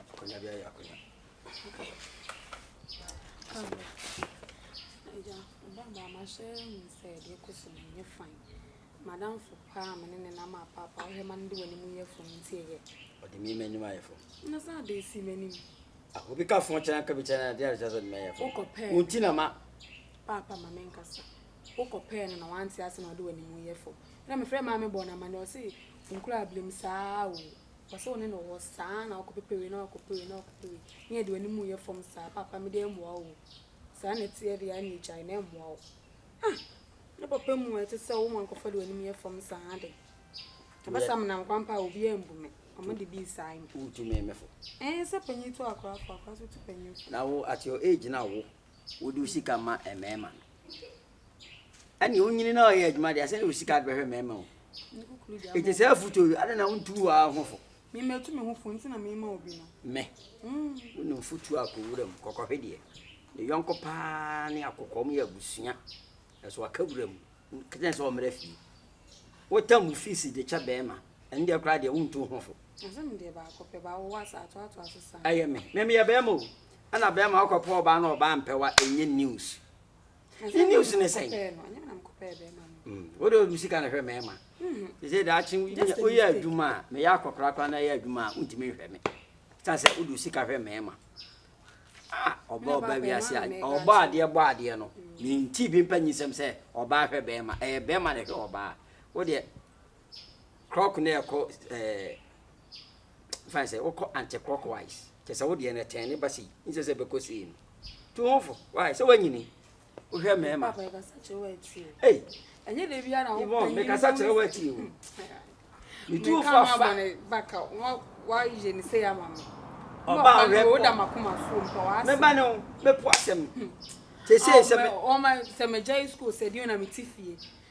Akonnwa bi ayɛ akonnwa. Agya, ɔbɛba ama sɛ hu sɛ deɛ ɛkɔ so no nyɛ fan. Madamfo paa a me ne ne nam apaapae wohwɛ ma no de w'anim yɛ fam nti ɛyɛ. Ɔde me m'anim ayɛ fam. Na sɛ ade si m'anim. Ah, obi ka fo kyerɛ ka bi kyerɛ na deɛ ahyɛ sɛ ɔde me ayɛ fam. Wokɔ pɛɛ. Wonti na ma. Paapa ma me nkasa. Wokɔ pɛɛ no na wante ase na ɔde w'anim yɛ fam. Ɛna mefrɛ maame bɔ no amane ɔse nkura ablim saa o. Ɔpɛ sɛ ɔne no wɔ hɔ saa ara na wakɔpepɛ wei na wakɔpɛ wei na wakɔpɛ wei na yɛde w'anim reyɛ fam saa, paapa me deɛ ɛmmoa wo o, saa na ɛteɛ deɛ a na ɛgyae na ɛmmoa wo. Ah! Ne papa mu a ɛte sɛ wo ma nkurɔfoɔ de w'anim yɛ fam saa ara de. Ɛba saa menam kwan pa a obiara mbu me, wɔn de bi saa me. Wotu me me fo. Ɛɛ sɛ panyin tu akora fo, akora nso tu panyin fo. Na wo at your age na wo wode wo sika ma mmarima no ɛne wonyini na ɔyɛ adwuma deɛ sɛ ne wo sika de bɛhwɛ mmarima o ɛti sɛ afotuo yi adɛn na wontu wo ara ho fo memɛtu me ho fo nti na mema obi no mɛ mm. wonim fotuo a kɔwura mu kɔkɔhwe deɛ ne yɔnko paa ne akokɔm yɛ abusua ɛso aka wura mu kɛtɛ sɛ ɔmmerɛ fie wota mu fiisi de kyɛ bɛrima ɛne deɛ koraa deɛ wontu ho fo ɛyɛ me mɛmeyɛ bɛrima o Ɛna bɛɛma ɔkɔ pɛ ɔbaa na ɔbaa mpɛ wa ɛnyɛ news ne news ne sɛn wode ɔde sika na hwɛ mɛɛma sɛ daakye woyɛ adwuma a meyɛ akɔkora kora na ɛyɛ adwuma a wontumi nhwɛ me ta sɛ wode sika hwɛ mɛɛma ɔbɔ ɔba wiase a ɔbɔ adeɛ bɔ adeɛ no menti bi mpa nyisɛm sɛ ɔbaa hwɛ bɛɛma ɛyɛ bɛɛma na hwɛ ɔbaa wodeɛ krɔk na ɛkɔ ɛɛ fine sɛ wokɔ anti clockwise kyɛ sɛ wodeɛ no ɛtɛn ne ba sei nsɛ sɛ bɛkɔ sei no tu ho fo wae sɛ woanyini wohwɛ mmarima ei ibɔ mekasa kyerɛ wo atie o metu wo fo afa wayɛ ne sɛ ama me ɔba ahwɛ pɔ meba ne wo mɛpo asɛm te sei sɛ me ɔma sɛ magya yi school sɛ deɛ na mete fie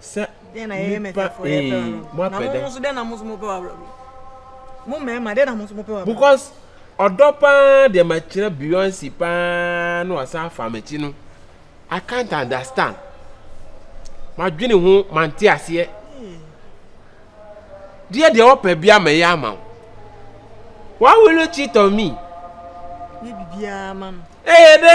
sɛ nipa ee mo apɛ dɛ. because ɔdɔ paa deɛ ma kyerɛ beyonce paa na wasan afa m'akyi no i can't understand ma dwene ho ma nte aseɛ deɛ deɛ ɔpɛ bia ma yɛ ama wo why will you cheat on me. yɛ bibiara ma no. ɛyɛ dɛ.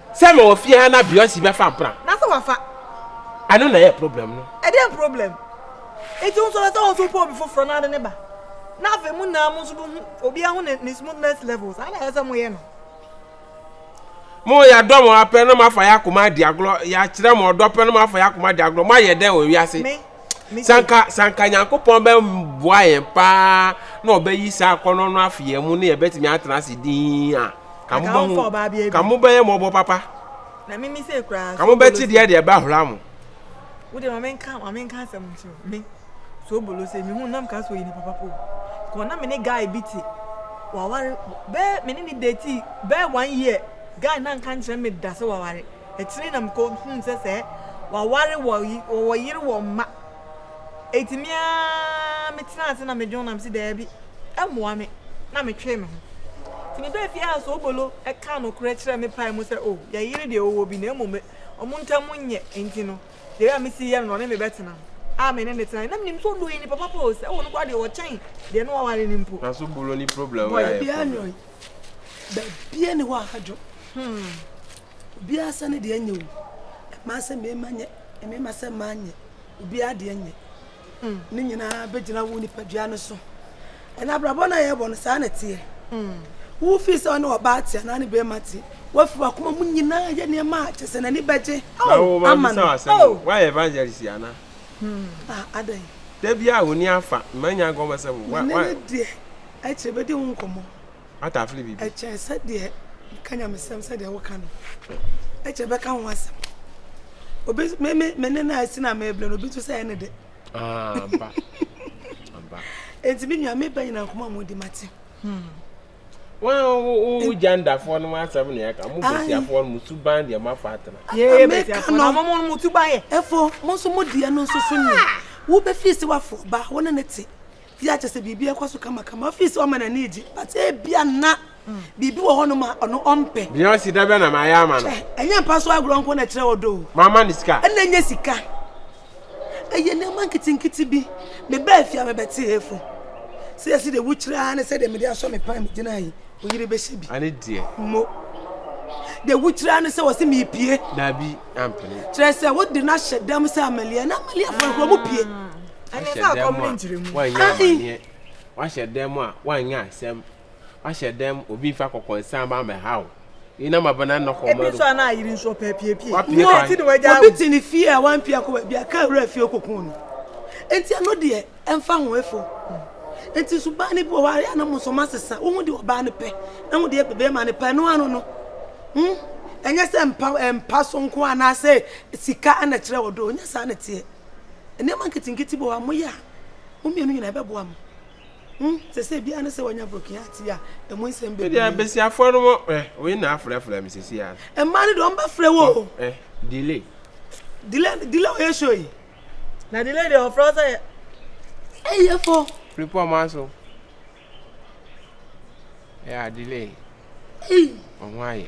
Sɛ mewɔ fie ha na Beyonce bɛfa mpena. Na sɛ wafa. Ɛno na ɛyɛ problem no. Ɛdeɛn problem? Nti wo nso ɛsɛ sɛ wo nso wopɛ obi foforɔ na wode no ba. Na afei mo nyinaa mo nso bɛhu obiara ho ne ne smoothness level. Saa na ɛsɛ sɛ moyɛ no. Mo yɛdɔ mo ara pɛ na moafa yɛn akoma adi agorɔ. Yɛakyerɛ mo ɔdɔ pɛ na moafa yɛn akoma adi agorɔ. Moayɛ dɛn wɔ wiase? Me. sɛ anka sɛ anka nyankopɔn bɛboa yɛn paa na ɔbɛyi saa akɔnnɔ no afi yɛn mu ne yɛbɛtumi atena ase dinn a ka mobɛhu ka mobɛyɛ mmɔbɔ papa ka mobɛte deɛ deɛ ɛbɛhora mo wode ma menka ma menka asɛm nkyerɛ me so obolo sɛ mehu nam ka so yi ne papa po kɔ na me ne guy bi te waware bɛɛ me ne ne date bɛɛ one year guy na nka nkyerɛ me da sɛ waware Akyiri yi na mikohui sɛ sɛ wɔaware wɔ wɔwɔ yere wɔ mma. Enti me ara metenaa ase na medwen ho na mese daabi, ɛmmoa me, na metwee me ho. Nti mebaa fie a Soobolo kaa nokorɛ kyerɛɛ me pae mu sɛ oh, yɛn yere deɛ ɔwɔ bi na mmom wɔn ntam nyɛ nti no deɛ ɛyɛ a mesi yɛ no na ɔne me bɛtena a me ne no tenae. Na menim sɛ ɔdɔ Annie papa pa o, sɛ ɛwɔ no koraa deɛ ɔkyɛn deɛ na waware no mpo. Na Soobolo ne problem wei ayɛ problem. Baabiara nni hɔ a ɛdwo. Obiara sɛ ne deɛ nyɛ o. Mmaa sɛ mmarima nyɛ, mmarima sɛ mmaa nyɛ, obiara deɛ nyɛ. Hmm. Ne nyinaa bɛgyina wo nipadua no so. Ɛna abrabɔ no a yɛbɔ no saa na teɛ. Hmm. Wo fi sɛ ɔne ɔbaa te anaa ne bɛrima te. Wafiri wakoma mu nyinaa yɛ nneɛma a kyɛ sɛ n'ani bɛgye. Oh, ama no. Oh. Why evangelist ana? Hmm. Ah, adɛn. Da bi a wɔni afa, mma nya gɔmɔ sɛ wo. Wa, wa. Ne deɛ, ɛkyerɛ bɛdi ho nkɔmmɔ. atafere biribi. Ɛkyɛ sɛ deɛ nka nyamesɛm sɛ deɛ woka no ɛkyɛ bɛka ho asɛm obi me me me ne na asi na mebrɛ no obi to sɛ ɛne de aba aba enti me nua meba nyina nkɔmɔ mu di mate hmm wo gyandafoɔ no asɛm ne ɛka mo bɛsiafoɔ no mo suban deɛ moafa atena yɛyɛ bɛsiafoɔ no mo mo suban yɛ ɛfo mo nso mo deɛ no nso so nyɛ wobɛfii sɛ wafo ba wo ne ne te Yɛ a kyerɛ sɛ biribi rekɔ so kamakama. Ɔfii sɛ ɔma n'ani regye, but ebia na biribi wɔ hɔnom a ɔno ɔmpɛ. Beyonce da bɛn na mayɛ ama no? Kyɛ, ɛnyɛ mpa so agorɔ nko na ɛkyerɛ ɔdɔ o. Mamma no sika? Ɛnna ɛnyɛ sika. Ɛyɛ nneɛma nketenkete bi. Mebaa fie a mebɛtee Hefo. Sɛ yɛsi de wokyerɛ ara ne sɛdeɛ mede asɔ me pan megyina yi, wo yere bɛhyɛ bi. Ɛne deɛ. Mo. Deɛ wokyerɛ ara ne sɛ wɔse mepie. Dabi, ampene. Kyerɛ sɛ wode no ahyɛ dam sɛ Amalia, na Amaliafoɔ no koraa wɔpie. Wahyɛ dɛm a wanyɛ amaneɛ. Wahyɛ dɛm a wanyɛ asɛm. Wahyɛ dɛm obi nfa kɔkɔ nsan ba mɛha o. Yi na ma bɛ na nɔkɔ mɛdo. Ebi nso a na ayiri nso ɔpɛ apiepie. Wapie kwan. Nti na wagya awo. Obi te ne fie a wampie akɔ baabi a kaa wura fie kɔ kun no. Nti ɛno deɛ ɛnfa ho efo. Nti nso baa no bi wɔ hɔ a yɛ a na mo nso masesa. Wohu deɛ ɔbaa no pɛ na ho deɛ bɛrima no pɛ ɛno ano no. Hmm ɛnyɛ sɛ mpa mpa so nko anaasɛ sika na ɛkyerɛ ɔdɔ o nyɛ saa na ɛteɛ. Nneɛma nketenkete bi wɔ hɔ a moyɛ a, mo mmienu nyinaa ɛbɛboa mo. Ho sɛ sɛ biara ne sɛ wanya broken heart yi a, ɛmu nsɛm bɛ Ɛdeɛ besiafoɔ no mo eh, wei na afrɛfrɛ me sisi a. Mmaa no deɛ wɔn bɛ frɛ wo o. Eh, delay. Delay, delay ɔyɛ show yi. Na delay deɛ ɔfrɛ wo sɛ yɛ. Ɛyɛ fo. Firi pɔ ɔmo aso. Yeah, delay. Ei. Ɔmo ayɛ.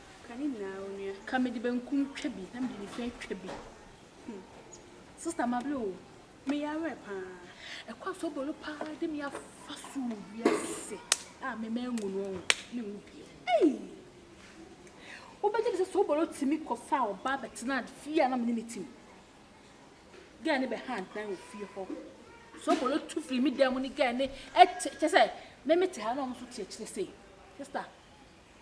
Ka ne nyinaa onua. Ka mede benkum twa bi na mede nifa atwa bi. Hmm. Sister Mable o, meyɛ awerɛ paa. Ɛkwan so bolo paa de me afa so wɔ wiase a mema ngu no ɔho ne mu bio. Ei! Wobɛgye me sɛ so bolo tumi kɔfa ɔbaa bɛtena fie a na mene ne tim. Gɛɛ ne bɛha adan wɔ fie hɔ. So bolo tu firi me dan mu ne gɛɛ ne ɛte kyɛ sɛ me mete ha na ɔmo so te akyire sei. Sister.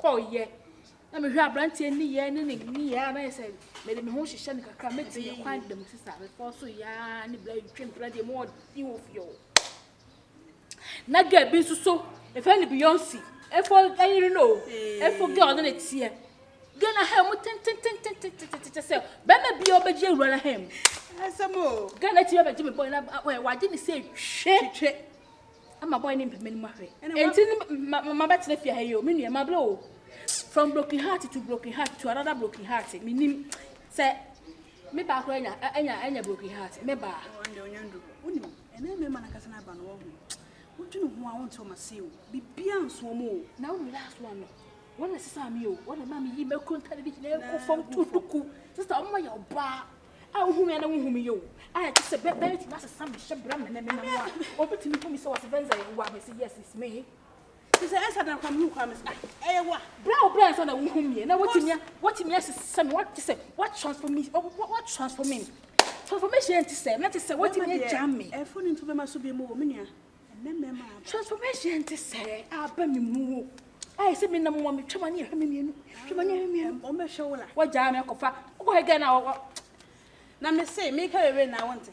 kɔɔeɛ na mehwɛ aberanteɛ nneyɛɛ ne ne nneyɛɛ a na yɛ sɛ mede me ho hyehyɛ no kakra mɛte yɛ kwan dam te saa mekɔɔ so yaa ne bla twam pira deɛ mu ɔde wɔ fie hɔ na gɛ bi nso so ɛfɛ ne beyonce ɛfɔ ɛyere no o ɛfɔ gɛ ɔne ne teɛ gɛ na ha mu tentententententententɛ sɛ bɛma bi a ɔbɛgye awura no ha mu gɛ na ti bɛbɛgye me bɔe na wagye ne sɛ twɛ Ama boy ne mpɛmɛ no mu ahwɛ. Enti ne ma ma bɛtena fie ha yi o, me nua mabrɛ o. From broken heart to broken heart to another broken heart. Menim sɛ me baa koraa anya anya anya broken heart. Me baa. Wanda onya ndu hɔ. Wonim, ɛnɛ mmarima na kasa na aba no wahu. Wodwene ho a wonte wɔn ase o. Bibia nso wɔn o. Na wo last one no. Wɔn na ɛsesaa me o. Wɔn na ɛmaa me yii m'akuro ntade de nyinaa kɔ fam too duku. Sista wɔn ma yɛ ɔbaa. a wohu me a na wohu me yɛ o, a ɛte sɛ bɛ, bɛtumi asesa me hyɛ bra me ne me nam a, wɔbɛtumi hu me sɛ wɔse Venza yɛ wo a, mese yes, it's me. Te sɛ ɛsa da kwa mehu kwa me sɛ ah, ɛyɛ wo a. Bra o bra ansa na wohu me, na wɔtumi, wɔtumi asesa me, wɔte sɛ, what transform me, what transform me. Transformation nti sɛ, na te sɛ wɔtumi agya me. Ɛfo no nti bɛma so bi mu o, me nua. Transformation nti sɛ aba me mu o. Ayɛ sɛ menam wɔ me twɛma ne ɛhwɛ me mmienu. Twɛma ne ɛhwɛ mmienu. Wɔn bɛhwɛ wo la. Wɔgyaa me kɔfa. Wokɔ hɛ gɛn na wɔwɔ. Na me se meka wewe na wɔn te.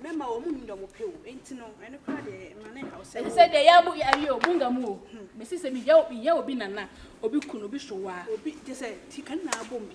Mɛma wɔn mu nyina wɔn pɛ o. Enti no ɛno kora deɛ ma ne haw sɛ. Ɛti sɛ deɛ yɛabo yɛ awie o. Munga mu o. Me se sɛ meyɛ obi nana, obi kunu, obi sowa. Obi te sɛ ti kan na abom bi.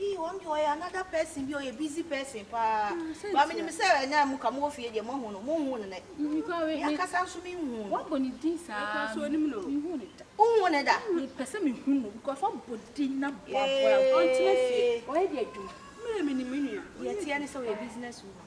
Ii wɔn deɛ ɔyɛ another person bi ɔyɛ busy person paa ba menim sɛ ɛnɛ a moka mowɔ fie deɛ moahu no monhu no nɛ me ankasa nso menhu no wabɔ ne din saa menhu ne da wonhu ne da mepɛ sɛ mehu no because wabɔ din na boaboa ɔntena fie ɔyɛ deɛ adwuma mmerɛ menim me nua deɛ ɛteɛ ne sɛ ɔyɛ business woman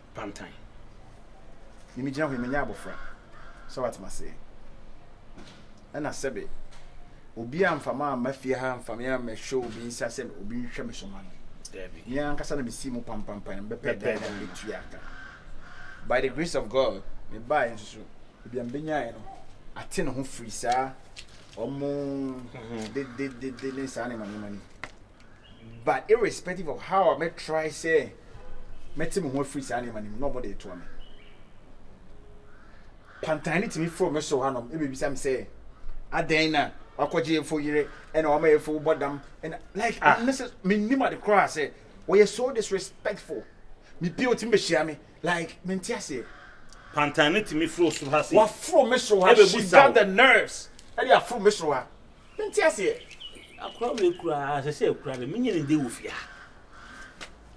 pantan. Me megyina hɔ yi menyɛ abɔfra sɛ wate m'aseɛ ɛna sɛbe obi amfa ma amma fie ha amfa me ammɛhwɛ obi nsa sɛ obi nhwɛ me so ma no Dabi. me ankasa na mesii mu pampampan na mebɛpɛ Bɛpɛ dan na dan no. mebɛtua aka by the grace of God mebaeɛ nso so ebi a mebɛnyaeɛ no ate ne ho firi saa ɔmo dededede ne saa nneɛma nneɛma no mu. But irrespective of how a mɛ try sɛ mɛte me ho afiri saa nneɛma no mu na ɔmo de etoa me. Pantan no tumi foro me soro hanom ɛbɛbisa me sɛ adɛn na wakɔgye efo yere ɛna wama efo bɔ dam ɛna like ah. ne sɛ mennim ade koraa sɛ wɔyɛ so disrespectful me pie otumi bɛhyia me like mente aseɛ. Pantan no tumi foro soro ha se. Waforo me soro ha she got the nerves ɛde aforo me soro ha. Mente aseɛ. Akora wei koraa ɛsɛ sɛ ɛkora no menye ne de wɔ fie ha.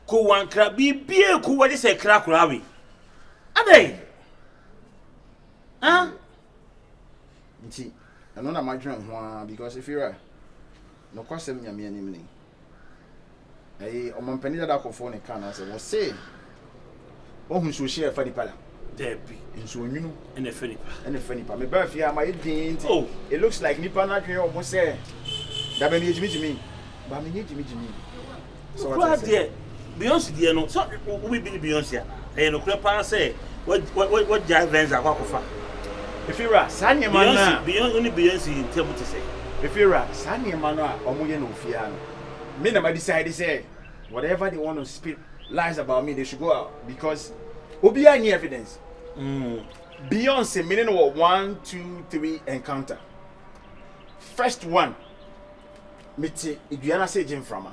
Ko wankra biribiara ko wɔde sɛ ɛkra akora wei. Adɛn? Ah? Nti ɛno na madwene ho ara because Fira nokwasɛm Nyame anim ni. Ɛyi ɔmampanin dada kɔfoɔ ne kaa n'asɛ wɔ se wahu nsuohyɛ ɛfa nipa da. Daabi. Nsuo nwunu. Ɛna ɛfa nipa. Ɛna ɛfa nipa. Me baa fie ama yɛ din nti. Oh. It looks like nipa no adwene wɔn sɛ dabɛn no yɛ gyimigyimi. Ba me nyɛ gyimigyimi. Sɛ wɔte sɛ. Beyonce deɛ no sɛ wobebi ne Beyonce a ɛyɛ nokorɛ paa sɛ wagyae Venz akɔ akɔfa Efi ra, saa nneɛma no a. Beyonce, wo ne Beyonce ntam te sɛ. Efi ra, saa nneɛma no a wɔyɛ no ofie ha no, me na ma decide sɛ whatever they want to spit lies about me, they should go out because obiara nni evidence. Beyonce, me ne no wɔ one, two, three encounter. First one, mete dua no ase regye mframa.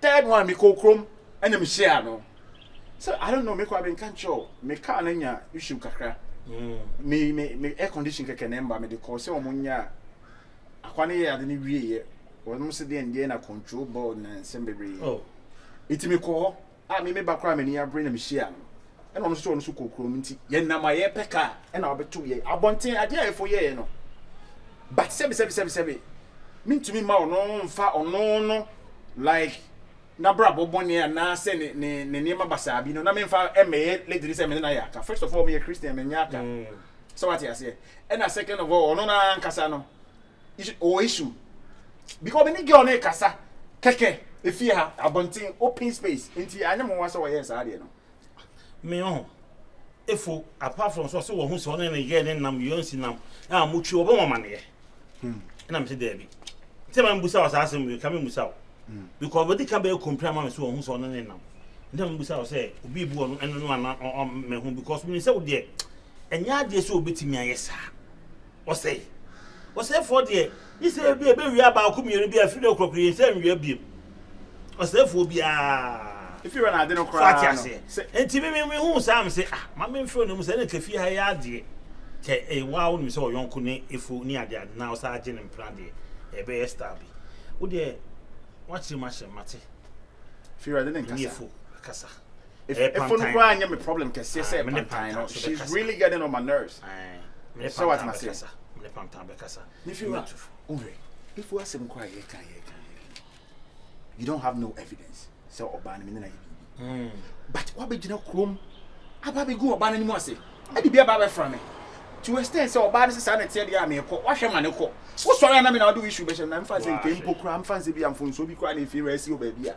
Third one mekɔɔ kurom ɛna me hyia no sɛ I don't know mekɔ a me nka nkyerɛ o me car no nya issue kakra me me me air condition kɛkɛ na ɛmba me de kɔɔ sɛ wɔn nya akwa no yɛ ade no wie yɛ wɔn sɛ deɛ ndeɛ na control board na nsɛm bebree eti mekɔɔ hɔ. a me me ba koraa a m'ani abere na mehyia no na ɔno nso sɛ ɔno nso kɔ kurom nti yɛnam a yɛpɛ kaa ɛna ɔbɛto yɛ abɔnten adeɛ a ɛfo yɛɛ no but sɛbi sɛbi sɛbi sɛbi mentumi ma ɔno mfa ɔno no like n'abrabɔ bɔne anaasɛ ne ne ne nneɛma basaa bi no na memfa mmɛyɛ lediri sɛ mene no ayɛ aka first of all meyɛ christian menyɛ aka mm. sɛ wate aseɛ ɛna second of all ɔno no ankasa no You see, ɔwɔ issue. Because me ne girl no rekasa kɛkɛ efie ha, abɔnten, open space. Nti anyɛ mo nwa sɛ ɔyɛɛ saa deɛ no. Me ɔho efo apart from sɛ ɔse wɔho sɛ ɔne ne yɛɛ ne nam yɔn si nam a motwi ɔbɛ wɔn amaneɛ. Ɛna mese daabi. Sɛ ma mbusa wɔ saa asɛm bi ka me mbusa wo. Because wɔde ka bɛyɛ kompira ama me sɛ wɔho sɛ ɔne ne nam. Nti me mbusa wɔ sɛ obi bu ɔno ɛno no ana me ho because me sɛ wo deɛ ɛnyɛ adeɛ sɛ obetumi ayɛ saa. Ɔsɛe. Ɔsɛefoɔ deɛ, gye sɛ ebi a ɛbɛwia baako mmienu bi a, ɛfiri no korɔ korɔ yɛnsa nwia bio. Ɔsɛefoɔ biara. Ɛfiri hɔ na ade no koraa no. So ate aseɛ? Enti me me huu saa me se, ah, ma me mfiri ɔno mu sɛ, ɛna nka fie ha yɛ adeɛ. Kyɛ ɛyɛ waa wonim sɛ ɔyɔnko ne efu ne ade ade na ɔsaa gye ne mpena deɛ, ɛbɛyɛ style bi. Wo deɛ, woakyere m'ahyɛ, mate. Firi ade ne nkasa. Ɛne efu akasa. Efo no koraa nyɛ me problem kɛseɛ sɛ pantan no, she's really getting on my nerves. Sɛ wate m'aseɛ? Me feel a, wohwɛ, Efo asɛm koraa a yɛka yɛka you don't have no evidence sɛ ɔbaa no mene no ayɛ biribi but wabɛgyina kurom aba bɛgu ɔbaa no anim ase ɛde bi aba bɛfra me to extend sɛ ɔbaa no sɛ saa na ɛteɛ deɛ a meekɔ wahwɛ ma ne kɔ wosɔre a na me na wode wo issue bɛhyɛ no na mfa sɛ nkɛmpo koraa mfa sɛ bi a mfonsuo bi koraa na ɛfie rɛ asi wɔ baabi a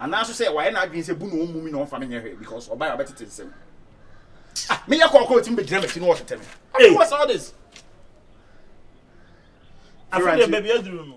Anaa nso sɛ wayɛ n'adwene sɛ bu na ɔmmu me na ɔmfa me nyɛ hwee because ɔbae a ɔbɛtete nsɛm. Ah, meyɛ kɔkɔ ɔtumi bɛgyina m'akyi na ɔtetɛ me. Hey. What's all this? Afei deɛ baabi aduru no.